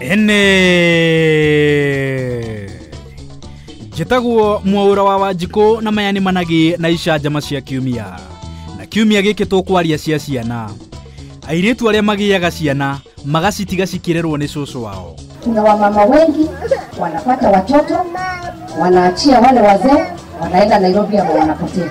ĩnĩ njĩtagwo mwaũra wa wanjikũ na maya nĩ managĩ na icanjama cia kiumia na kiumia gĩkĩ tũkwaria cia ciana airĩtu arĩa magĩaga ciana magacitiga cikĩrerwo nĩ cũcũ wao Kuna wamama wengi wanapata watoto, wanaachia wale wazee, wanaenda Nairobi ama wanapotea.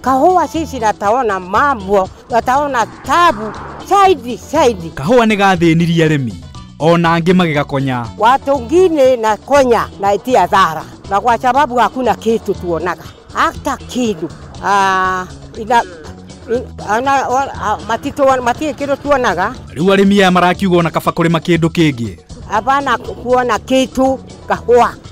Kahũa cici rataona mambo rataona tabu saidi saidi. Kahũa nĩ gathĩnirie arĩmi ona angĩ magĩgakonya. Watu ngine na konya na itia dhara na kwa sababu hakuna kitu tuonaga hata kitu ah, ina, in, ana, o, a, matito, matie kitu tuonaga Rĩu arĩmi aya marakiuga ona kaba kũrĩma kĩndũ kĩngĩ. hapana kuona kitu kahũa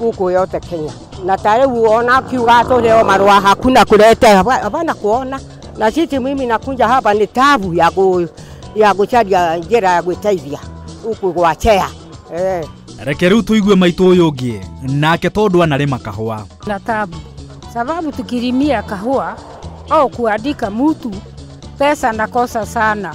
gũkũ yote Kenya na tare uona kiuga tuleo marua hakuna kulete hapana kuona na sisi mimi nakunja hapa ni tabu ya ku, ya kucharia njira ya gwĩteithia huku gwachea eh. reke rĩu tũigue maitũ ũyũ ũngĩ nake tondũ anarĩma kahũa na tabu sababu tukilimia kahua au kuandika mtu pesa nakosa sana